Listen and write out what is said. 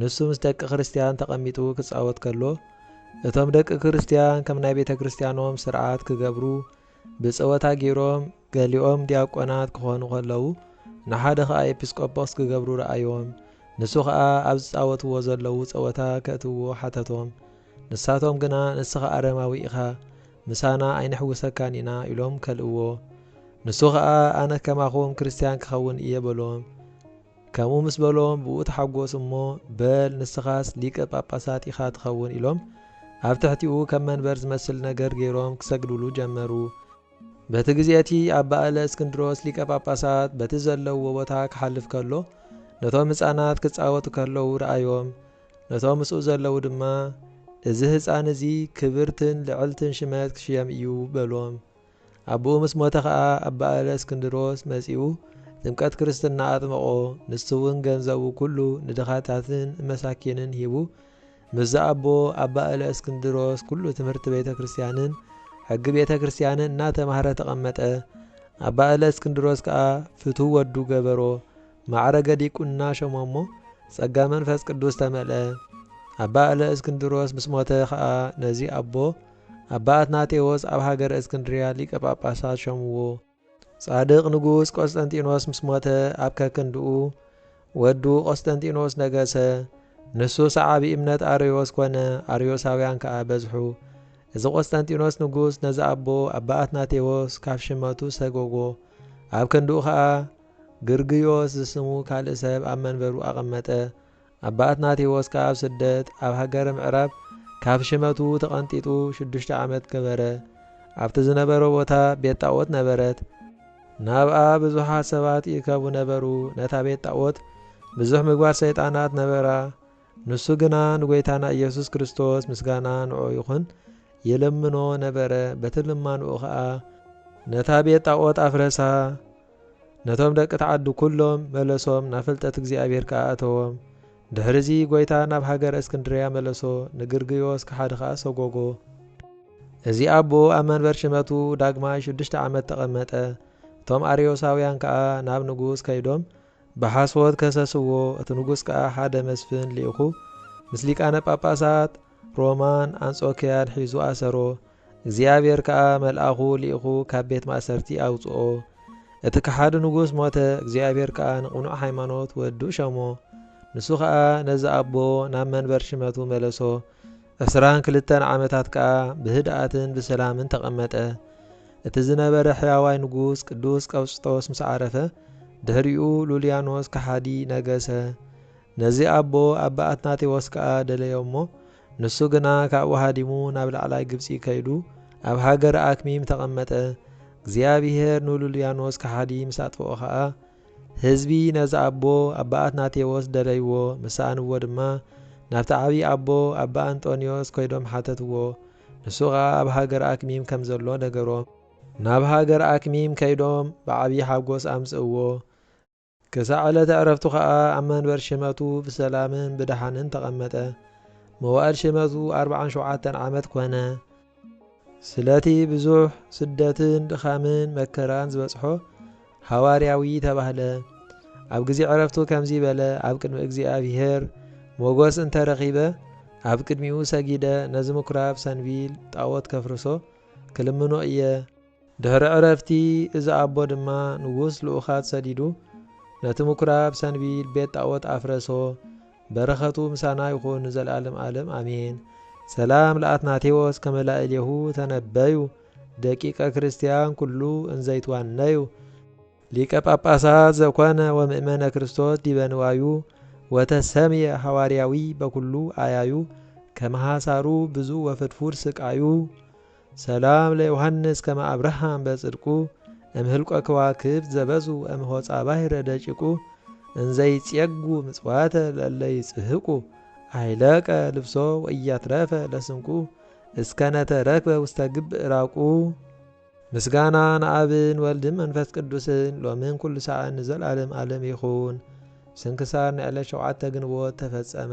ንሱ ምስ ደቂ ክርስትያን ተቐሚጡ ክጻወት ከሎ፣ እቶም ደቂ ክርስትያን ከም ናይ ቤተ ክርስትያኖም ስርዓት ክገብሩ ብጸወታ ገይሮም፣ ገሊኦም ዲያቆናት ክኾኑ ከለዉ፣ ንሓደ ኸኣ ኤጲስቆጶስ ክገብሩ ረኣዮም። ንሱ ኸኣ ኣብ ዝጻወትዎ ዘለዉ ጸወታ ከእትውዎ ሓተቶም። ንሳቶም ግና ንስኻ ኣረማዊ ኢኻ፣ ምሳና ኣይንሕውሰካን ኢና ኢሎም ከልእዎ። ንሱ ኸኣ ኣነ ከማኹም ክርስትያን ክኸውን እየ በሎም። ከምኡ ምስ በሎም ብኡ ተሓጎሱ እሞ በል ንስኻስ ሊቀ ጳጳሳት ኢኻ ትኸውን ኢሎም ኣብ ትሕቲኡ ከም መንበር ዝመስል ነገር ገይሮም ክሰግዱሉ ጀመሩ። በቲ ግዜ እቲ ኣባ እለ እስክንድሮስ ሊቀ ጳጳሳት በቲ ዘለውዎ ቦታ ክሓልፍ ከሎ ነቶም ህጻናት ክጻወቱ ከለዉ ረኣዮም። ነቶም ምስኡ ዘለዉ ድማ እዚ ህጻን እዚ ክብርትን ልዕልትን ሽመት ክሽየም እዩ በሎም። ኣቡኡ ምስ ሞተ ከኣ ኣባእለ እስክንድሮስ መጺኡ ጥምቀት ክርስትና ኣጥመቆ ንሱውን ገንዘቡ ኩሉ ንድኻታትን ንመሳኪንን ሂቡ ምስ ዝኣቦ ኣባእለ እስክንድሮስ ኩሉ ትምህርቲ ቤተ ክርስትያንን ሕጊ ቤተ ክርስትያንን እናተማህረ ተቀመጠ ኣባእለ እስክንድሮስ ከኣ ፍትው ወዱ ገበሮ ማዕረገ ዲቁና ሸሞሞ ጸጋ መንፈስ ቅዱስ ተመልአ ኣባእለ እስክንድሮስ ምስ ሞተ ከኣ ነዚ ኣቦ ኣባ ኣትናቴዎስ ኣብ ሃገረ እስክንድርያ ሊቀ ጳጳሳት ሾምዎ። ጻድቅ ንጉስ ቆስጠንጢኖስ ምስ ሞተ ኣብ ከክንድኡ ወዱ ቆስጠንጢኖስ ነገሰ። ንሱ ሰዓቢ እምነት ኣርዮስ ኮነ፣ ኣርዮሳውያን ከኣ በዝሑ። እዚ ቆስጠንጢኖስ ንጉስ ነዚ ኣቦ ኣባ ኣትናቴዎስ ካብ ሽመቱ ሰጎጎ። ኣብ ክንድኡ ከኣ ግርግዮስ ዝስሙ ካልእ ሰብ ኣብ መንበሩ ኣቐመጠ። ኣባ ኣትናቴዎስ ከኣ ኣብ ስደት ኣብ ሃገረ ምዕራብ ካብ ሽመቱ ተቐንጢጡ ሽዱሽተ ዓመት ገበረ። ኣብቲ ዝነበሮ ቦታ ቤት ጣኦት ነበረት። ናብኣ ብዙሓት ሰባት ይእከቡ ነበሩ። ነታ ቤት ጣኦት ብዙሕ ምግባር ሰይጣናት ነበራ። ንሱ ግና ንጐይታና ኢየሱስ ክርስቶስ ምስጋና ንዕኡ ይኹን ይልምኖ ነበረ። በቲ ልማንኡ ከኣ ነታ ቤት ጣኦት ኣፍረሳ። ነቶም ደቂ ትዓዱ ኩሎም መለሶም ናብ ፍልጠት እግዚኣብሔር ከኣ ኣእተዎም። ድሕርዚ ጐይታ ናብ ሃገረ እስክንድርያ መለሶ፣ ንግርግዮስ ከሓዲ ከኣ ሰጐጎ። እዚ ኣቦ ኣብ መንበር ሽመቱ ዳግማይ ሽዱሽተ ዓመት ተቐመጠ። እቶም ኣርዮሳውያን ከኣ ናብ ንጉስ ከይዶም ብሓሶት ከሰስዎ፣ እቲ ንጉስ ከኣ ሓደ መስፍን ልኢኹ ምስ ሊቃነ ጳጳሳት ሮማን ኣንጾክያን ሒዙ ኣሰሮ። እግዚኣብሔር ከኣ መልኣኹ ልኢኹ ካብ ቤት ማእሰርቲ ኣውጽኦ። እቲ ከሓዲ ንጉስ ሞተ፣ እግዚኣብሔር ከኣ ንቕኑዕ ሃይማኖት ወዱ ሸሞ። ንሱ ከኣ ነዚ ኣቦ ናብ መንበር ሽመቱ መለሶ፣ ዕስራን ክልተን ዓመታት ከኣ ብህድኣትን ብሰላምን ተቐመጠ። እቲ ዝነበረ ሕያዋይ ንጉስ ቅዱስ ቀውስጦስ ምስ ዓረፈ፣ ድሕሪኡ ሉልያኖስ ከሓዲ ነገሰ። ነዚ ኣቦ ኣባ ኣትናቴዎስ ከኣ ደለዮ እሞ፣ ንሱ ግና ካብኡ ሃዲሙ ናብ ላዕላይ ግብጺ ከይዱ ኣብ ሃገረ ኣክሚም ተቐመጠ። እግዚኣብሄር ንሉልያኖስ ከሓዲ ምስ ኣጥፍኦ ኸኣ፣ ህዝቢ ነዚ ኣቦ ኣባ ኣትናቴዎስ ደለይዎ፣ ምስ ሰኣንዎ ድማ ናብቲ ዓብዪ ኣቦ ኣባ ኣንጦንዮስ ከይዶም ሓተትዎ፣ ንሱ ኸኣ ኣብ ሃገረ ኣክሚም ከም ዘሎ ነገሮም። ናብ ሃገረ ኣክሚም ከይዶም ብዓብዪ ሓጎስ ኣምጽእዎ፣ ክሳዕ ዕለተ ዕረፍቱ ኸኣ ኣብ መንበር ሽመቱ ብሰላምን ብደሓንን ተቐመጠ። መዋእል ሽመቱ ኣርብዓን ሸውዓተን ዓመት ኮነ። ስለቲ ብዙሕ ስደትን ድኻምን መከራን ዝበጽሖ ሃዋርያዊ ተባህለ። ኣብ ግዜ ዕረፍቱ ከምዚ በለ፣ ኣብ ቅድሚ እግዚኣብሄር ሞገስ እንተ ረኺበ፣ ኣብ ቅድሚኡ ሰጊደ ነዚ ምኵራብ ሰንቢል ጣዖት ከፍርሶ ክልምኖ እየ። ድሕሪ ዕረፍቲ እዚ ኣቦ ድማ ንጉስ ልኡኻት ሰዲዱ ነቲ ምኵራብ ሰንቢል ቤት ጣኦት ኣፍረሶ። በረኸቱ ምሳና ይኹን ንዘልኣለም ኣለም ኣሜን። ሰላም ለኣትናቴዎስ ከመ ላዕሌሁ ተነበዩ ደቂቀ ክርስቲያን ኩሉ እንዘ ይትዋነዩ። ሊቀ ጳጳሳት ዘኮነ ወምእመነ ክርስቶስ ዲበ ንዋዩ ወተሰምየ ሐዋርያዊ በኩሉ ኣያዩ ከመ ሐሳሩ ብዙ ወፍድፉድ ስቃዩ። ሰላም ለዮሃንስ ከመ ኣብርሃም በጽድቁ እም ህልቆ ክዋክብት ዘበዙ እም ሆጻ ባሕረ ደቂቁ እንዘ ይጼጉ ምጽዋተ ለእለ ይጽህቁ ኣይለቀ ልብሶ ወኢያትረፈ ለስንቁ እስከ ነተረክበ ውስተ ግብእ ራቁ። ምስጋና ንኣብን ወልድን መንፈስ ቅዱስን ሎምን ኩሉ ሳዕን ንዘልኣለም ኣለም ይኹን። ስንክሳር ንዕለት ሸውዓተ ግንቦት ተፈጸመ።